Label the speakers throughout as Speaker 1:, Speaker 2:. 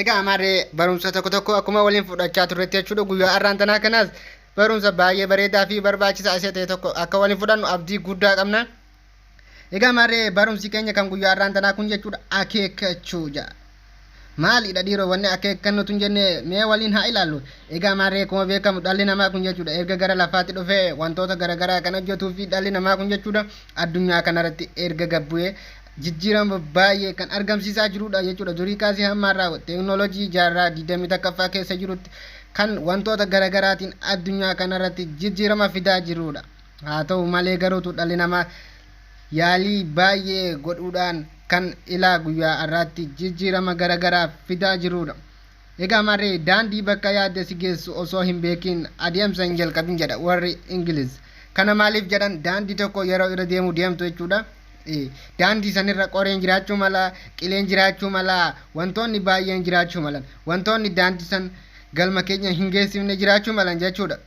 Speaker 1: Egaa amaarree barumsa tokko tokko akkuma waliin fudhachaa turretti jechuudha guyyaa har'aan tanaa kanaas barumsa baay'ee bareedaa fi barbaachisaa isa ta'e tokko akka waliin fudhannu abdii guddaa qabna. Egaa amaarree barumsi keenya kan guyyaa har'aan tanaa kun jechuudha akeekkachuu ja'a. Maalidha dhiiroo wanni akeekkannu tun jennee mee waliin haa ilaallu. Egaa amaarree akkuma beekamu dhalli namaa kun jechuudha erga gara lafaatti dhufee wantoota garaagaraa kan hojjetuu fi dhalli namaa kun jechuudha addunyaa kanarratti erga gabbu'ee jijjiirama baay'ee kan argamsiisaa jirudha jechuudha. Durii kaasee hamma har'aa teeknooloojii jaarraa 21ffaa keessa jirutti kan wantoota garaagaraatiin addunyaa kanarratti jijjiirama fidaa jirudha. Haa ta'u malee garuutu dhalli namaa yaalii baay'ee godhuudhaan kan ilaa guyyaa har'aatti jijjiirama garaagaraa fidaa jirudha. Egaa marri daandii bakka yaadde si geessu osoo hin beekiin adeemsa hin jalqabin jedha warri Ingiliz. Kana maaliif jedhan daandii tokko yeroo irra deemuu deemtu jechuudha. Daandii sanirra qoreen jiraachuu mala, qileen jiraachuu mala, wantoonni baay'een jiraachuu malan. Wantoonni daandii san galma keenya hin geessifne jiraachuu malan jechuudha.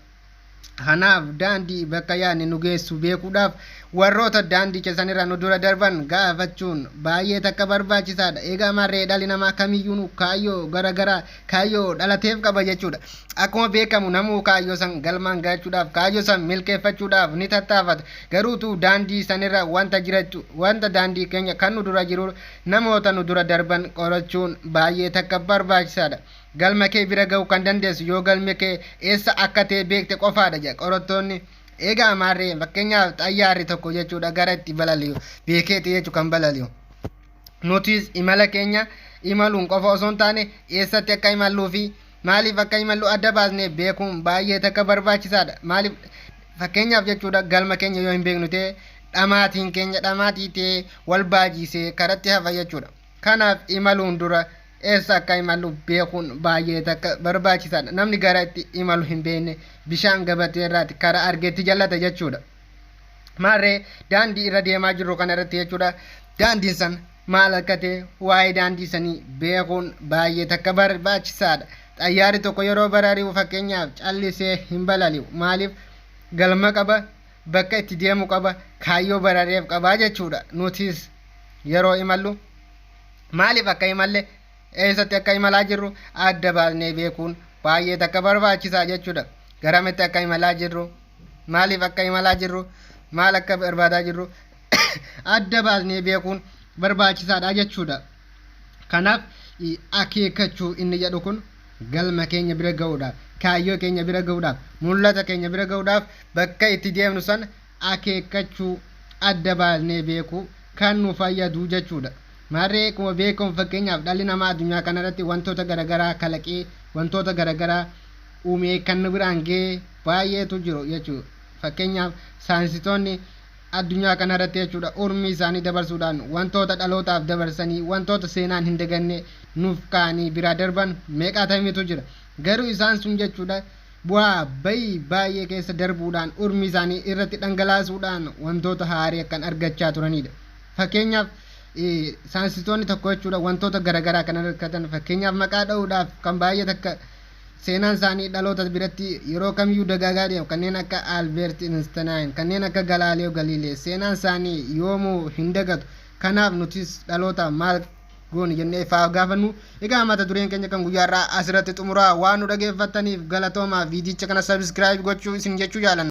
Speaker 1: Kanaaf daandii bakka yaadne nu geessu beekuudhaaf warroota daandicha sanirra nu dura darban gaafachuun baay'ee takka barbaachisaadha. Egaa marree dhalli namaa kamiyyuu kaayyoo garaagaraa kaayyoo dhalateef qaba jechuudha. Akkuma beekamu namuu kaayyoo san galmaan gahachuudhaaf kaayyoo san milkeeffachuudhaaf ni tattaafata. Garuutu daandii sanirra wanta jirachu wanta daandii keenya kan nu dura jiru namoota nu dura darban qorachuun baay'ee takka barbaachisaadha. Galma kee bira ga'uu kan dandeessu yoo galmi kee eessa akka ta'e beekte qofaadha jedha qorattoonni. Eega amaarree fakkeenyaaf xayyaarri tokko jechuudha gara itti balali'u beekeeti jechuu kan balali'u. Nutis imala keenya imaluun qofa osoo hin taane eessatti akka imalluu fi maaliif akka imallu adda baasnee beekuun baay'ee takka barbaachisaadha. Maaliif fakkeenyaaf jechuudha galma keenya yoo hin beeknu ta'e dhamaatiin keenya dhamaatii ta'e wal baajiisee karatti hafa jechuudha. Kanaaf imaluun dura eessa akka imallu beekuun baay'ee takka barbaachisaadha. Namni gara itti imalu hin beekne bishaan gabatee irraati karaa argeetti jallata jechuudha. Maarree daandii irra deemaa jirru kana irratti jechuudha. Daandiin san maal akka ta'e waa'ee daandii sanii beekuun baay'ee takka barbaachisaadha. Xayyaarri tokko yeroo barari'u fakkeenyaaf callisee hin balali'u. Maaliif galma qaba? bakka itti deemu qaba kaayyoo barareef qaba jechuudha nutis yeroo imallu maaliif akka imalle eessatti akka imalaa jirru adda baasnee beekuun baay'ee takka barbaachisaa jechuudha garamitti akka imalaa jirru maaliif akka imalaa jirru maal akka barbaadaa jirru adda baasnee beekuun barbaachisaadha jechuudha. Kanaaf akeekkachuu inni jedhu kun galma keenya bira ga'uudhaaf, kaayyoo keenya bira ga'uudhaaf, mul'ata keenya bira ga'uudhaaf bakka itti deemnu sana akeekkachuu, adda baasnee beekuu kan nu fayyadu jechuudha. Maarree akkuma beekamu fakkeenyaaf dhalli namaa addunyaa kanarratti wantoota garaagaraa kalaqee wantoota garaagaraa uumee kan nu biraan ga'e baay'eetu jiru jechuudha. Fakkeenyaaf saayinsitoonni addunyaa kana irratti jechuudha urmii isaanii dabarsuudhaan wantoota dhalootaaf dabarsanii wantoota seenaan hin daganne nuuf kaa'anii biraa darban meeqaatamiitu jira garuu isaan sun jechuudha bu'aa bayii baay'ee keessa darbuudhaan urmii isaanii irratti dhangalaasuudhaan wantoota haarii akkan argachaa turanidha fakkeenyaaf saayinsistoonni tokko jechuudha wantoota garaagaraa kan argatan fakkeenyaaf maqaa dha'uudhaaf kan baay'ee takka Seenaan isaanii dhaloota biratti yeroo kamiyyuu dagaagaa deema. Kanneen akka Albeert Instinaayin, kanneen akka Galaaleo Galiilee seenaan isaanii yoomuu hin dagatu. Kanaaf nutis dhalootaaf maal goone jennee faaf gaafannu. Egaa mata dureen keenya kan guyyaarraa asirratti xumuraa waan nu dhageeffattaniif galatoomaa viidiyicha kana sabiskiraayib gochuu isin jechuu jaalanna.